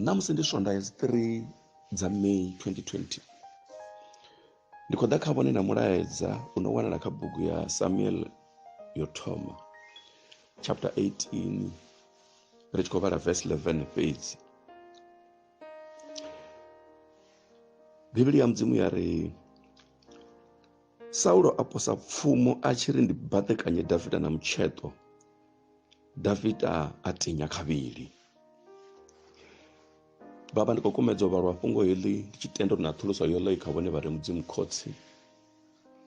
ṋamusi ndi swondaha dzi 3 dza may 2020 ndi khou ḓa kha vhone na mulaedza u no wanala kha bugu ya samuel yo thoma chapter 18 ri tshi khou vhala verse 11 fhedzi bivhili ya mudzimu ya ri saulo a posa pfumo a tshi ri ndi baḓekanye davida na mutsheṱo davida a tinya khavhili vhavha ndi khou kumedza u vhalwa fhungo heḽi ndi tshi tenda uri na thuluso yoḽo i kha vhone vha re mudzimu khotsi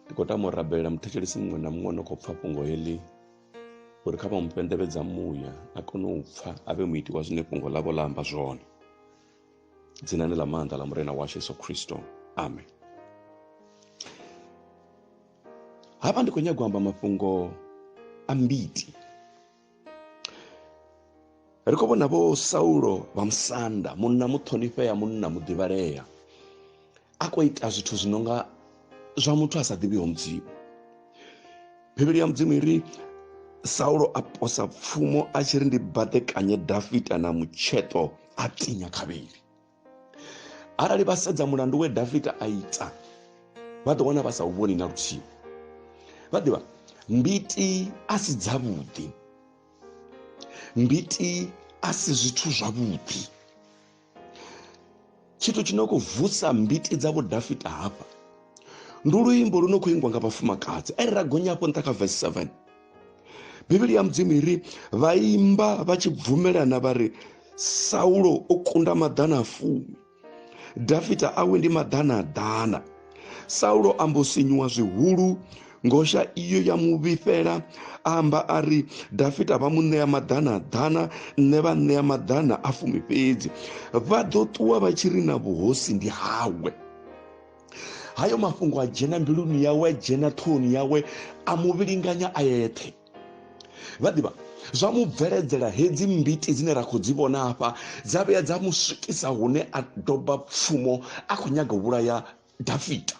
ndi khou tama u rabelela muthetshelesi muṅwe na muṅwe no khou pfha fhungo heḽi uri kha vha mu fhenḓevhedza muya a kone u pfha a vhe muiti wa zwine fhungo ḽavho ḽa amba zwone dzinani ḽa maanḓa ḽa murena washu yesu khristo amen hafha ndi khou nyaga u amba mafhungo a mbiti ri khou vhona vho saulo vha musanda munna muṱhonifhea munna muḓivhalea a khou ita zwithu zwi no nga zwa muthu a sa ḓivhiho mudzimu bivhili ya mudzimu i ri saulo a posa pfumo a tshi ri ndi baḓekanye dafita na mutsheṱo a tinya khavhili arali vha sedza mulandu we dafita a ita vha ḓo wana vha sa u vhoni na luthihi vha ḓivha mbiti a si dzavhuḓi mbiti a si zwithu zwavhuḓi tshithu tshi no khou vusa mbiti dza vhudafita hafha ndi luimbo lu no khou ingwa nga vhafumakadzi are ra gonya hafho nṱha kha vesi 7 bivhili ya mudzimu i ri vha imba vha tshi bvumelana vha ri saulo o kunda maḓana a fumi dafita awe ndi maḓana a ḓana saulo ambo sinyuwa zwihulu ngosha iyo ya mu vhifhela amba a ri dafita vha mu ṋea maḓana ḓana nṋe vha ṋea maḓana a fumi fhedzi vha ḓo ṱuwa vha tshi ri na vhuhosi ndi hawe hayo mafhungo a dzhena mbiluni yawe a dzhena ṱhohoni yawe a mu vhilinganya a yeṱhe vha ḓivha zwa mu bveledzela hedzi mbiti dzine ra khou dzi vhona hafha dza vhuya dza mu swikisa hune a doba pfumo a khou nyaga u vhulaya dafita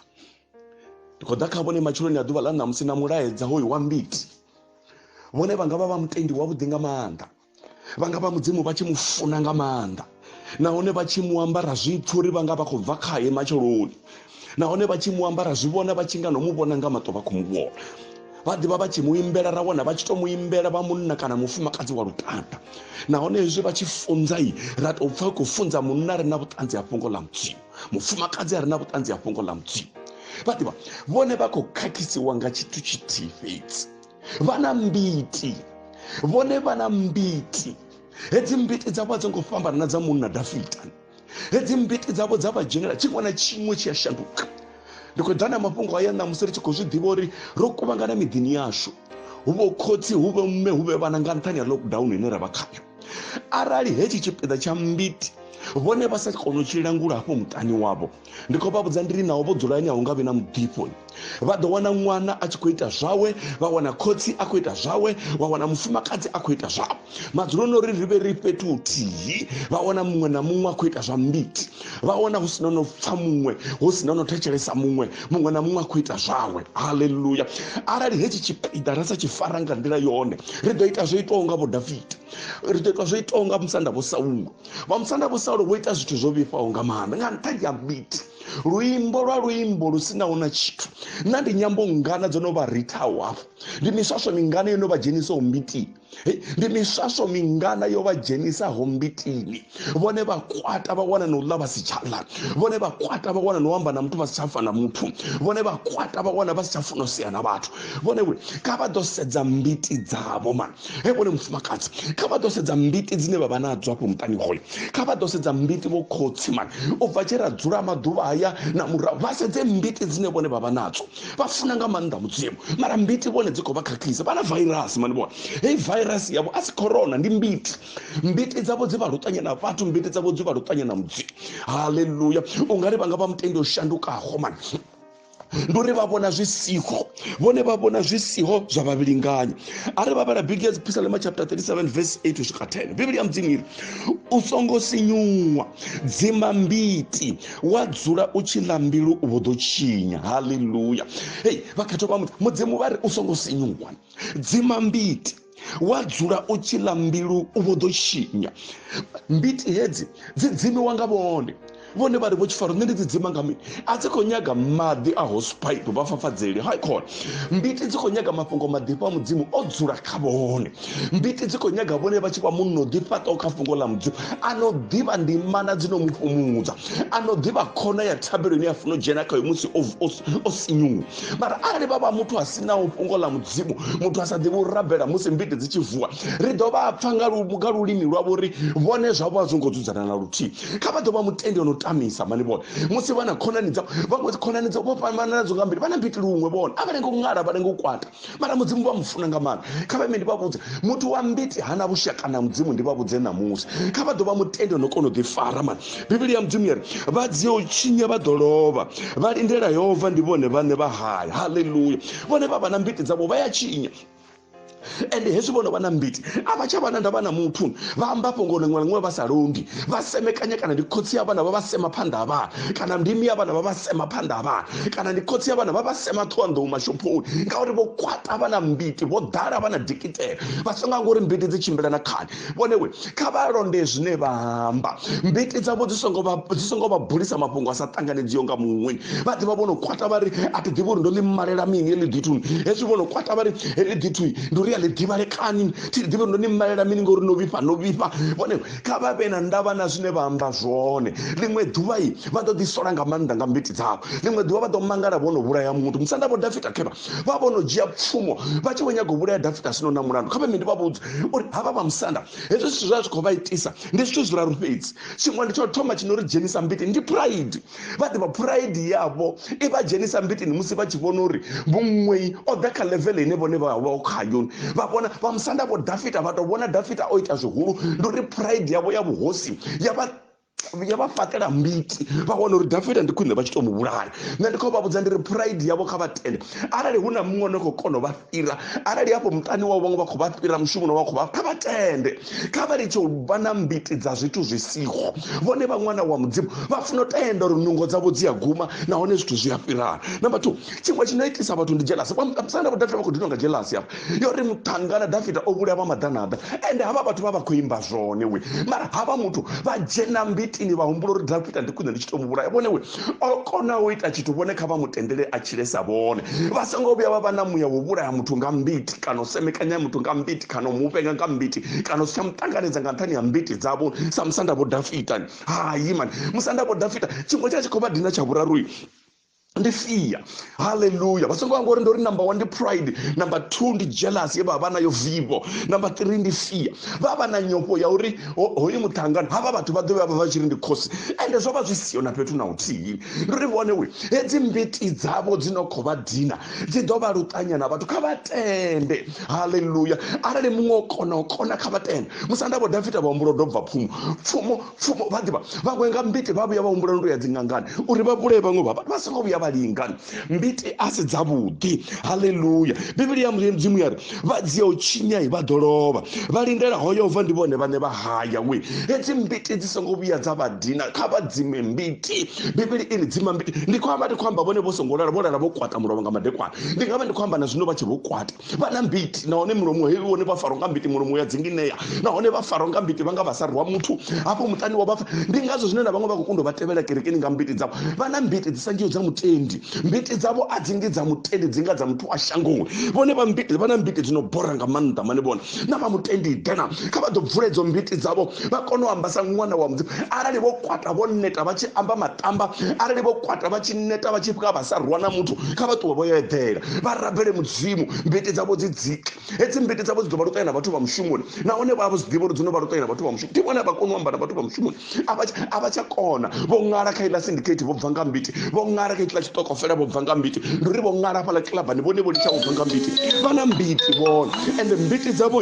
ndi khou ḓa kha vhone matshiloni a ḓuvha ḽa ṋamusi na mulaedza hoyu wa mbiti vhone vha nga vha vha mutendi wavhuḓi nga maanḓa vha nga vha mudzimu vha tshi mu funa nga maanḓa nahone vha tshi mu ambara zwipfhi uri vha nga vha khou bva khaye matsheloni nahone vha tshi mu ambara zwi vhona vha tshi nga no mu vhona nga maṱo vha khou mu vhona vha ḓivha vha tshi mu imbela ra wana vha tshi to mu imbela vha munna kana mufumakadzi wa lutanda nahone hezwi vha tshi funza i ra tou pfa khou funza munna ri na vhuṱanzi ha fhungo ḽa mudzimu mufumakadzi a re na vhuṱanzi ha fhungo ḽa mudzimu vha ḓivha vhone vha khou khakhisiwa nga tshithu tshithihi fhedzi vha na mbiti vhone vha na mbiti hedzi mbiti dzavho a dzo ngo fhambana na dza munna dafita hedzi mbiti dzavho dza vha dzhenela tshiṅwe na tshiṅwe tshi a shanduka ndi khou ḓa na mafhungo aya na musi ri tshi khou zwi ḓivha uri ro kuvhangana miḓini yashu hu vho khotsi hu vhe mme hu vhe vhana nga nṱhani ha lockdown ine ra vha khayo arali hetshi tshipiḓa tsha mbiti vhone vha sa kona u tshi langula hafho muṱani wavho ndi khou vha vhudza ndiri naho vho dzula ane a hu nga vhi na muḓifho vha ḓo wana ṅwana a tshi khou ita zwawe vha wana khotsi a khou ita zwawe wa wana mufumakadzi a khou ita zwawe madzuloni uri ri vhe ri fhethu huthihi vha wana muṅwe na muṅwe a khou ita zwa mbiti vha wana hu sina no pfa muṅwe hu sina no thetshelesa muṅwe muṅwe na muṅwe a khou ita zwawe haleluya arali hetshi tshipiḓa ra sa tshi fara nga nḓila yone ri ḓo ita zwo itaho nga vho davida ri ḓo ita zwo itaho nga musanda vho saulo vha musanda vho saulo vho ita zwithu zwo vhifhaho nga maanḓa nga nṱhani ya biti luimbo lwa luimbo lu sinaho na tshithu na ndi nyambo ngana dzo no vha rithaho hafho ndi miswaswo mingana yo no vha dzhenisaho mbitini ndi miswaswo mingana yo vha dzhenisaho mbitini vhone vha kwata vha wana na u ḽa vha si tsha ḽa vhone vha kwata vha wana na u amba na muthu vha si tsha fa na muthu vhone vha kwata vha wana vha si tsha funa u sea na vhathu vhone vhule kha vha ḓo sedza mbiti dzavho mani he vhone mufumakadzi kha vha ḓo sedza mbiti dzine vha vha nadzo afho muṱani hoyo kha vha ḓo sedza mbiti vho khotsi mani u bva tshe ra dzula maḓuvha haya na murahu vha sedze mbiti dzine vhone vha vha nadzo vha funa nga maanḓa mudzimu mara mbiti vhone dzi khou vha khakhisa vha na virus mani vhona heyi virus yavho a si corona ndi mbiti mbiti dzavho dzi vha luṱanya na vhathu mbiti dzavho dzi vha luṱanya na mudzimu haleluya u nga ri vha nga vha mutendi o shandukaho mani ndi uri vha vhona zwi siho vhone vha vhona zwi siho zwa vhavhilinganyi a ri vhavhala bigi ya dzipisalema chapter 37 verse 8 swika 10 bivhili ya mudzimu iri u songo sinyuwa dzima mbiti wa dzula u tshi ḽa mbilu vho ḓo tshinya haleluya hei vhakhetho vha muthu mudzimu vha ri u songo sinyuwa dzima mbiti wa dzula u tshi ḽa mbilu vho ḓo tshinya mbiti hedzi dzi dzimiwa nga vhone vhone vha ri vho tshifaro nṋe ndi dzi dzima nga mini a dzi khou nyaga maḓi a hosepipe vha fafadzeli hai khona mbiti dzi khou nyaga mafhungo maḓifha a mudzimu o dzula kha vhone mbiti dzi khou nyaga vhone vha tshi vha munna o ḓifhaṱaho kha fhungo ḽa mudzimu a no ḓivha ndimana dzi no mu fhumudza a no ḓivha khona ya thabelo ine a funa u dzhena khayo musi o sinyuwa mara arali vha vha muthu a si naho fhungo ḽa mudzimu muthu a sa ḓivhi u rabela musi mbiti dzi tshi vuwa ri ḓo vha pfa nga lulimi lwavho uri vhone zwavho a zwo ngo dzudzana na luthihi kha vha ḓo vha mutendi o no tamisa mani vhone musi vha na khonani dzavho vhaṅwe khonani dzavho vho fhambanana dzo nga mbili vha na mbiti luṅwe vhone a vha lengo ṅala vha lengo kwata mara mudzimu vha mufuna nga maanḓa kha vha ime ndi vha vhudze muthu wa mbiti hana vhushaka na mudzimu ndi vha vhudze ṋamusi kha vha ḓo vha mutende no kona u ḓifara mani bivhili ya mudzimu yari vha dzia u tshinya vha ḓo lovha vha lindela yehova ndi vhone vhaṋe vha haya haleluya vhone vha vha na mbiti dzavho vha ya tshinya ende hezwi vhono vha na mbiti a vha tsha vha na ndavha na muthu vha amba fhungo liṅwe liṅwe vha sa londi vha semekanya kana ndi khotsi ya vhana vha vha sema phanḓa ha vhana kana ndimi ya vhana vha vha sema phanḓa ha vhana kana ndi khotsi ya vhana vha vha sema ṱhowanḓou mashophoni ngauri vho kwata vha na mbiti vho ḓala vha na dikitela vha songa ngori mbiti dzi tshimbila na khani vhone we kha vha londe zwine vha amba mbiti dzavho dzi songo vha dzi songo vha bulisa mafhungo a sa ṱanganedziho nga muṅwe vha ḓivha vho no kwata vha ri a thi ḓivhi uri ndo ḽi malela mini heḽi ḓithu hezwi vho no kwata vha ri heḽi ḓithu ndi uri a ḽi ḓivhale khani thi ḓivhi uri ndo ni malela mini ngori no vhifha no vhifha vhone kha vha vhe na ndavha na zwine vha amba zwone ḽiṅwe ḓuvha i vha ḓo ḓisola nga maanḓa nga mbiti dzavho ḽiṅwe ḓuvha vha ḓo mangala vho no vhulaya muthu musanda vho dafita khevha vha vho no dzhia pfumo vha tshi vho nyaga u vhulaya dafita sino na mulandu kha vhe ndi vha vhudze uri havha vha musanda hezwi zwithu zwa zwi khou vha itisa ndi zwithu zwiraru fhedzi tshiṅwe ndi tsho thoma tshi no ri dzhenisa mbiti ndi pride vha ḓivha phuraidi yavho i vha dzhenisa mbitini musi vha tshi vhona uri muṅwei o ḓa kha levele ine vhone vha vha khayo vha vhona vha musanda vho dafita vha tou vhona dafita o ita zwihulu ndi uri phuraidi yavho ya vhuhosi ya vha ya vha fhaṱela mbiti vha wana uri dafita ndi khwine vha tshi tou mu vhulaya nṋe ndi khou vha vhudza ndi ri phuraidi yavho kha vha tende arali hu na muṅwe one khou kona u vha fhira arali hafho muṱani wao vhaṅwe vha khou vha fhira mushumoni wa khou vha kha vha tende kha vha litshe u vha na mbiti dza zwithu zwi siho vhone vha ṅwana wa mudzimu vha funa u tenda uri nungo dzavho dzi a guma nahone zwithu zwi a fhirana number two tshiṅwe tshi no itisa vhathu ndi jelasi vhamusanda vho dafita vha khou dinwa nga jelasi hafha yo ri muṱhangana dafita o vhulaya vha maḓanaḓa ende havha vhathu vha vha khou imba zwone we mara havha muthu vha dzhena mbitini vha humbula uri dafita ndi khwine ndi tshi to mu vhulaya vhone we o kona u ita tshithu vhone kha vha mu tendele a tshile sa vhone vha songo vhuya vha vha na muya wo vhulaya muthu nga mbiti kana u semekanya muthu nga mbiti kana u mu vhenga nga mbiti kana u si tsha mu ṱanganedza nga nṱhani ha mbiti dzavho sa musanda vho dafitani hayi mani musanda vho dafita tshiṅwe tsha tshi khou vha dina tsha vhuraru ndi fia haleluya vha songo anga uri ndo ri number one ndi pride number two ndi jealous ye vha vha nayo vivo number three ndi fear vha vha na nyofho ya uri hoyu muṱangano havha vhathu vha ḓo vha vha tshi ri ndi khosi ende zwo vha zwi siho na fhethu na uthihi ndi uri vhone we hedzi mbiti dzavho dzi no khou vha dina dzi ḓo vha luṱanya na vhathu kha vha tende haleluya arali muṅwe o kona o kona kha vha tende musanda vho dafita vha humbulo dobva pfumo pfumo pfumo vha ḓivha vhaṅwe nga mbiti vha vhuya vha humbula ndo ya dzingangani uri vha vhulaye vhaṅwe vha vha songo vhuya vha lingani mbiti a si dzavhuḓi haleluya bivhili ya mudzimu ya ri vha dzia u tshinyai vha ḓo lovha vha lindela hoyo bva ndi vhone vhane vha haya we hedzi mbiti dzi songo vhuya dza vha dina kha vha dzime mbiti bivhili iri dzima mbiti ndi khou amba ndi khou amba vhone vho songo lala vho lala vho kwata mulovha nga madekwana ndi nga vha ndi khou amba na zwino vha tshe vho kwata vha na mbiti nahone mulomo heyi wone vha farwa nga mbiti mulomo ya dzinginea nahone vha farwa nga mbiti vha nga vha sa rwa muthu hafho muṱani wa vhafa ndi ngazwo zwine na vhaṅwe vha khou kunda vha tevhela kerekeni nga mbiti dzavho vha na mbiti dzi sa ngiho dza mutendi mbiti dzavho a dzi ngi dza mutendi dzi nga dza muthu wa shangoni vhone vha mbiti vha na mbiti dzi no bora nga maanḓa mane vhone na vha mutendi dena kha vha ḓo bvula idzo mbiti dzavho vha kone u amba sa ṅwana wa mudzimu arali vho kwata vho neta vha tshi amba matamba arali vho kwata vha tshi neta vha tshi pfuka vha sa rwa na muthu kha vha ṱuwe vho yo eḓela vha rabele mudzimu mbiti dzavho dzi dzike hedzi mbiti dzavho dzi ḓo vha luṱalela vhathu vha mushumoni nahone vha vha zwi ḓivha uri dzi no vha luṱalela vhathu vha mushumoni ndi vhone vha kone u amba na vhathu vha mushumoni a vha tsha kona vho ṅala kha iḽa syndicate vho bva nga mbiti vho ṅala kha iḽa tshitokofela vho bva nga mbiti ndi uri vho ṅala hafhaḽa kilabani vhone vho litsha vho bva nga mbiti vha na mbiti vhone ende mbiti dzavho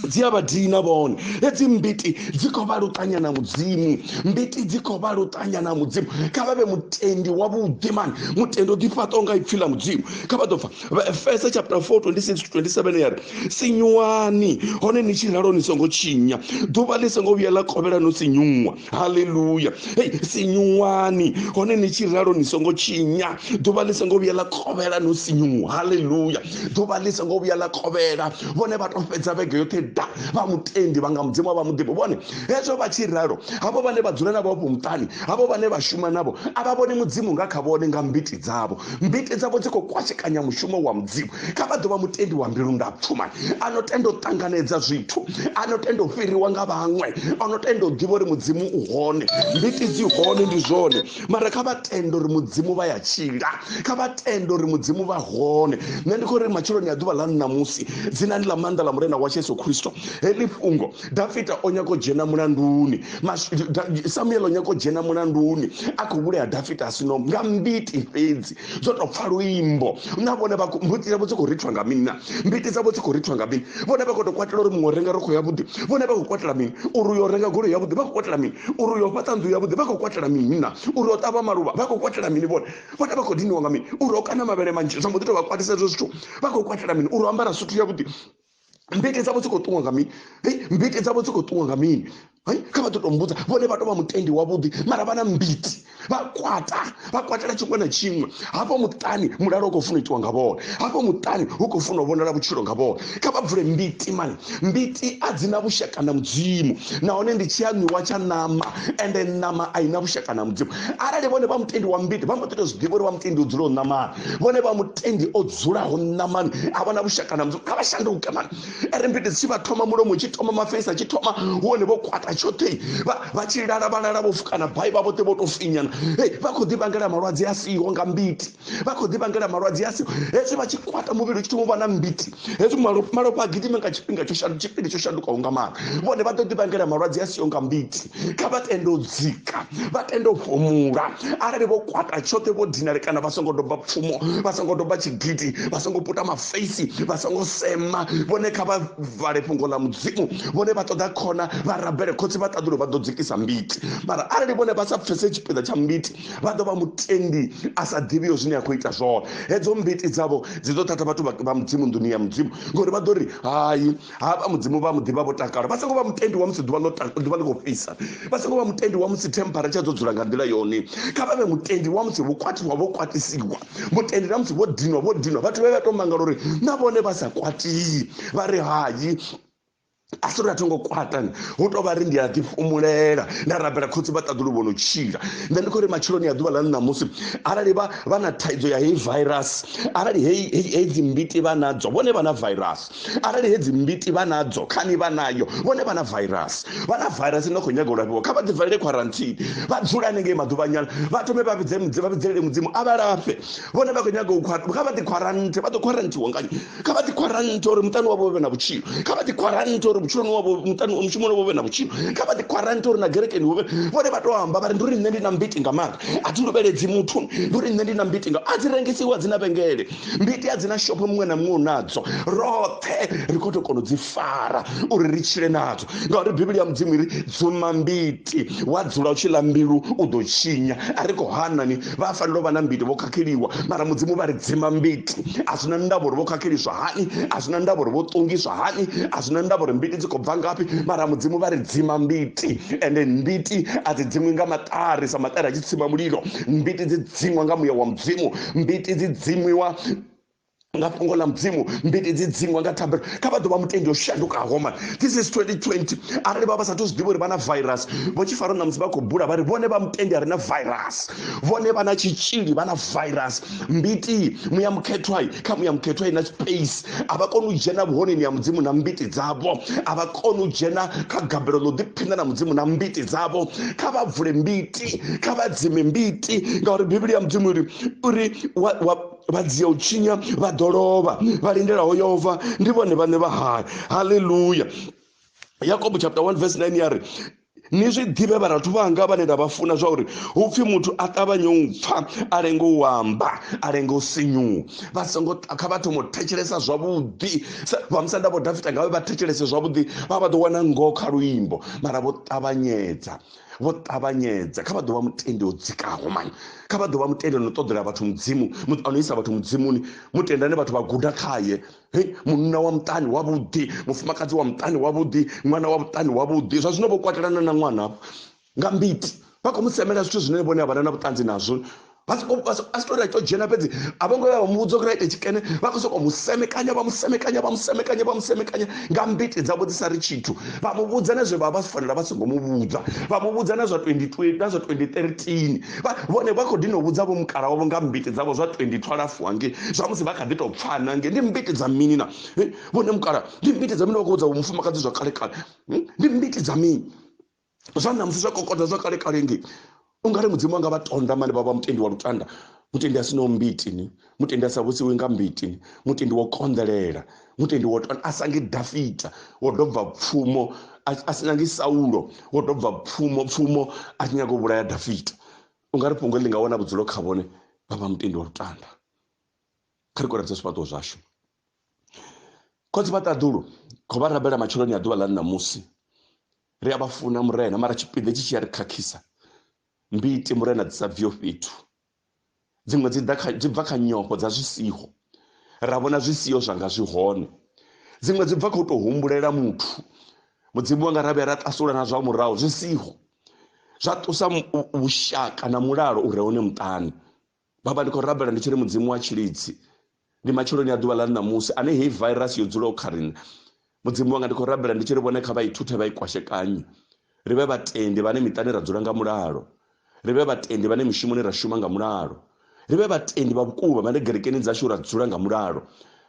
dzi a vha dina vhone hedzi mbiti dzi khou vha luṱanya na mudzimu mbiti dzi khou vha luṱanya na mudzimu kha vha vhe mutendi wa vhuḓi mani mutendi o ḓifhaṱaho nga ipfhi ḽa mudzimu kha vha ḓo pfa efesa chapter 4 26 to 27 ya ri sinyuwani hone ni tshi ralo ni songo tshinya ḓuvha ḽi songo vhuya ḽa kovhela no sinyuwa haleluya hei sinyuwani hone ni tshi ralo ni songo tshinya ḓuvha ḽi songo vhuya ḽa khovhela no sinyuwa haleluya ḓuvha ḽi songo vhuya ḽa khovhela vhone vha to fhedza vhege yoṱhe da vha mutendi vha nga mudzimu vha muḓivho vhone hezwo vha tshi ralo havho vhane vha dzula navho afho muṱani havho vhane vha shuma navho a vha vhoni mudzimu nga kha vhone nga mbiti dzavho mbiti dzavho dzi khou kwashekanya mushumo wa mudzimu kha vha ḓo vha mutendi wa mbilu ndapfuma a no tenda u ṱanganedza zwithu a no tenda u fhiriwa nga vhaṅwe a no tenda u ḓivha uri mudzimu u hone mbiti dzi hone ndi zwone mara kha vha tenda uri mudzimu vha ya tshila kha vha tenda uri mudzimu vha hone nṋe ndi khou ri matshiloni a ḓuvha ḽa ṋamusi dzinani ḽa maanḓa ḽa murena wa yesu khristo heḽi fhungo dafita o nyako dzhena mulanduni samuel o nyako dzhena mulanduni a khou vhulaya dafita a sino nga mbiti fhedzi zwo tou pfa luimbo na vhone mbuti dzavho dzi khou rithwa nga mini na mbiti dzavho dzi khou rithwa nga mini vhone vha khou tou kwatela uri muṅwe o renga rokho yavhuḓi vhone vha khou kwatela mini uri uyo renga golo yavhuḓi vha khou kwatela mini uri uyo fhaṱa nnḓu yavhuḓi vha khou kwatela mini na uri o ṱavha maluvha vha khou kwatela mini vhone vhone vha khou diniwa nga mini uri o kana mavhele manzhi zwa mbo ḓi tou vha kwatisa hezwo zwithu vha khou kwatela mini uri o ambara suthu yavhuḓi mbiti dzavho dzi khou ṱuwa nga mini hei mbiti dzavho dzi khou ṱuwa nga mini hei kha vha ḓo tou mbudza vhone vha tou vha mutendi wavhuḓi mara vha na mbiti vha kwata vha kwatela tshiṅwe na tshiṅwe hafho muṱani mulalo u khou funa itiwa nga vhone hafho muṱani hu khou funa u vhonala vhutshilo nga vhone kha vha bvule mbiti mani mbiti a dzi na vhushaka na mudzimu nahone ndi tshi aṋwiwa tsha ṋama ende ṋama a i na vhushaka na mudzimu arali vhone vha mutendi wa mbiti vha mbo ḓi tou zwi ḓivha uri vha mutendi u dzula u ṋamana vhone vha mutendi o dzulaho nṋa mani a vhona vhushaka na mudzimu kha vha shanduke mani ere mbiti tshi vha thoma mulomo tshi thoma mafeisa tshi thoma hone vho kwata tshoṱhe vha tshi lala vha lala vho fukana bai vha vhoṱhe vho tou finyana e vha khou ḓi vhangela malwadze a siho nga mbiti vha khou ḓi vhangela malwadze a siho hezwi vha tshi kwata muvhili u tshi thoma u vha na mbiti hezwi malofha a gidime nga tshifhinga tsho shandu tshifhinga tsho shandukaho nga mani vhone vha ḓo ḓi vhangela malwadze a siho nga mbiti kha vha tende u dzika vha tende u fhumula arali vho kwata tshoṱhe vho dinale kana vha songo doba pfumo vha songo doba tshigidi vha songo puta mafeisi vha songo sema vhone kha vha vale fhungo ḽa mudzimu vhone vha ṱoḓa khona vha rabele khotsi vha ṱaḓulo vha ḓo dzikisa mbiti mara arali vhone vha sa pfese tshipiḓa tsha mbiti vha ḓo vha mutendi a sa ḓivhiyo zwine a khou ita zwone hedzo mbiti dzavho dzi ḓo thatha vhathu vha mudzimu nḓuni ya mudzimu ngori vha ḓo ri hai hafha mudzimu vha muḓivha vho takala vha songo vha mutendi wa musi ḓuvha ḽo ḓuvha ḽi khou fhisa vha songo vha mutendi wa musi temperature dzo dzula nga nḓila yone kha vha vhe mutendi wa musi vho kwatiwa vho kwatisiwa mutendi na musi vho dinwa vho dinwa vhathu vhe vha tou mangala uri na vhone vha sa kwatii vha ri hayi a si uri a thongo kwatani hu tou vha ri ndi a ḓifhumulela nda rabela khotsi vha ṱaḓulu vho no tshila nṋe ndi khou ri matsheloni ya ḓuvha ḽa ṋamusi arali vha vha na thaidzo ya heyi virus arali heyi dzi mbiti vha nadzo vhone vha na virus arali hedzi mbiti vha nadzo khani vha nayo vhone vha na virus vha na virus ine khou nyaga u lafhiwa kha vha ḓi valele quarantine vha dzula hanengei maḓuvhanyana vha thome vha vhidze mudzimu vha vhidzelele mudzimu a vha lafhe vhone vha khou nyaga u kha vha ḓi quarantine vha ḓo quarantiwa ngani kha vha ḓi quarantine uri muṱani wavho vhe na vhutshilo kha vha ḓi quarantine uri vhutshiloni wavho muṱani mushumoni wavho vhe na vhutshilo kha vha ḓi quarantine uri na gerekeni hu vhe vhone vha tou amba vha ri ndi uri nṋe ndi na mbiti nga maanḓa a thi luvheledzi muthu ndi uri nṋe ndi na mbiti nga a dzi rengisiwa dzi na vhengele ndi itea dzi na shopho muṅwe na muṅwe u nadzo roṱhe ri khou tou kona u dzi fara uri ri tshile nadzo ngauri bivhili ya mudzimu iri dzuma mbiti wa dzula u tshi ḽa mbilu u ḓo tshinya a ri khou hanani vha fanela u vha na mbiti vho khakheliwa mara mudzimu vha ri dzima mbiti a zwi na ndavha uri vho khakheliswa hani a zwi na ndavha uri vho ṱungiswa hani a zwi na ndavha uri mbiti dzi khou bva ngafhi mara mudzimu vha ri dzima mbiti ende mbiti a dzi dziṅwi nga maṱari sa maṱari a tshi tsima mulilo mbiti dzi dziṅwa nga muya wa mudzimu mbiti dzi dzimiwa nga fhungo ḽa mudzimu mbiti dzi dzingwa nga thabelo kha vha ḓo vha mutendi o shandukaho man this is 2020 arali vha vha sathu zwi ḓivha uri vha na virus vho tshi fara ṋamusi vha khou bula vha ri vhone vha mutendi a re na virus vhone vha na tshitzhili vha na virus mbiti muya mukhethwai kha muya mukhethwai na space a vha koni u dzhena vhuhoneni ya mudzimu na mbiti dzavho a vha koni u dzhena kha gabelo ḽo ḓiphinda na mudzimu na mbiti dzavho kha vha bvule mbiti mbiti kha vha dzime mbiti ngauri bivhili ya mudzimu uri uri vha dzia u tshinya vha ḓo lovha vha lindelaho yova ndi vhone vhaṋe vha hayo haleluya yakobo chapter 1 verse 9 ya ri ni zwi ḓivhe vharathu vhanga vhane nda vha funa zwa uri hu pfhi muthu a ṱavhanye u pfha a lenge u amba a lenge u sinyuwa vha songo kha vha thoma u thetshelesa zwavhuḓi vha musa nda vho dafita ngavhe vha thetshelese zwavhuḓi vha vha ḓo wana ngoho kha luimbo mara vho ṱavhanyedza vho ṱavhanyedza kha vha ḓo vha mutendi o dzikaho mani kha vha ḓo vha mutendi no ṱoḓela vhathu mudzimu ano isa vhathu mudzimuni mutenda ane vhathu vha guda khaye munna wa muṱani wavhuḓi mufumakadzi wa muṱani wavhuḓi ṅwana wa muṱani wavhuḓi zwa zwino vho kwatelana na ṅwana nga mbiti vha khou mu semela zwithu zwine vhone a vhana na vhuṱanzi nazwo vha si tori a to dzhena fhedzi a vho ngo vha vha muvhudza uri a ite tshikene vha khou sokou musemekanya vha musemekanya vha musemekanya vha musemekanya nga mbiti dzavho dzi sa ri tshithu vha muvhudza na zwe vha vha si fanela vha songo muvhudza vha muvhudza na zwa 2020 na zwa 2013 vhone vha khou dino vhudza vho mukala wavho nga mbiti dzavho zwa 2012 hange zwa musi vha kha ḓi tou pfana nge ndi mbiti dza mini na vhone mukala ndi mbiti dza mini vha khou vhudza vho mufumakadzi zwa kale kale ndi mbiti dza mini zwa namusi zwa kokoda zwa kale kale nge ungari mudzimu anga vha tonda mane vha vha mutendi wa lutanda mutendi a sinaho mbiti ni mutendi a sa vhusiwi nga mbiti ni mutendi wo konḓelela mutendi wo tonda a sangi dafita wo dobva pfumo a si nyangi saulo wo dobva pfumo pfumo a tshi nyaga u vhulaya dafita ungari fhungo ḽi nga wana vhudzulo kha vhone vha vha mutendi wa lutanda kha ri koradza zwifhaṱuwo zwashu khotsi vha ṱaḓulu kho vha rabela matsheloni a ḓuvha ḽa ṋamusi ri a vha funa murena mara tshipiḓa tshi tshi ya ri khakhisa mbiti murena dzi sa bviho fhethu dziṅwe dzi dzi bva kha nyofho dza zwi siho ra vhona zwi siho zwanga zwi hone dziṅwe dzi bva kha u tou humbulela muthu mudzimu wanga ra vhuya ra ṱasula na zwa murahu zwi siho zwa ṱusa vhushaka na mulalo u re hone muṱani baba ndi khou rabela ndi tshi ri mudzimu wa tshilidzi ndi matsheloni a ḓuvha ḽa ṋamusi ane heyi virus yo dzulaho kha riṋe mudzimu wanga ndi khou rabela ndi tshi ri vhone kha vha ithuthe vha i kwashekanye ri vhe vhatendi vhane miṱani ra dzula nga mulalo ri vhe vhatendi vhane mishumoni ra shuma nga mulalo ri vhe vhatendi vha vhukuma vhane gerekeni dzashu ra dzula nga mulalo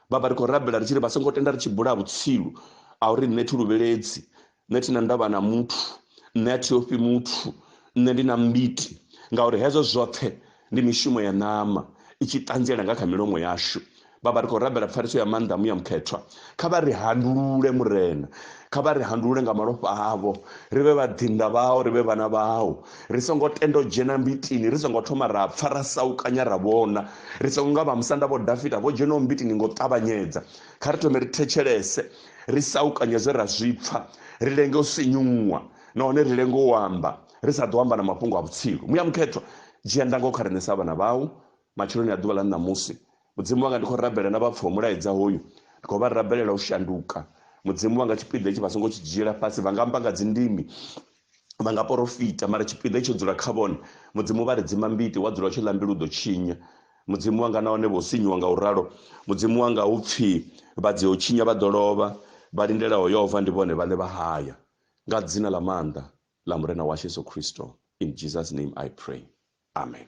baba ri khou rabela ri tshi ri vha songo tenda ri tshi bula vhutsilu a uri nṋe thi luvheledzi nṋe thina ndavha na muthu nṋe a thi ofhi muthu nṋe ndi na mbiti ngauri hezwo zwoṱhe ndi mishumo ya ṋama i tshi ṱanziela nga kha milomo yashu vhavha ri khou rabela pfariso ya maanḓa muya mukhethwa kha vha ri handulule murena kha vha ri handulule nga malofha avho ri vhe vhaḓinḓa vhao ri vhe vhana vhao ri songo tenda u dzhena mbitini ri songo thoma ra pfa ra saukanya ra vhona ri songo nga vha musanda vho dafita vho dzhenaho mbitini ngo ṱavhanyedza kha ri thome ri thetshelese ri saukanye zwe ra zwi pfa ri lenge u sinyuwa nahone ri lenge u amba ri sa ḓo amba na mafhungo a vhutsilu muya mukhethwa dzhia ndango kha riṋe sa vhana vhau matsheloni a ḓuvha ḽa ṋamusi mudzimu wanga ndi khou rabela na vhapfa mulaedza hoyu ndi khou vha rabelela u shanduka mudzimu wanga tshipiḓa itshi vha songo tshi dzhiela fhasi vha nga amba nga dzindimi vha nga porofita mara tshipiḓa tsho dzula kha vhone mudzimu vha ri dzima mbiti wa dzula tshi ḽa mbilu ḓo tshinya mudzimu wanga na hone vho sinyiwa nga u ralo mudzimu wanga hu pfhi vha dzi ho tshinya vha ḓo lovha vha lindela ho yova ndi vhone vhaṋe vha haya nga dzina ḽa maanḓa ḽa murena washu yesu khristo in jesus name i pray amen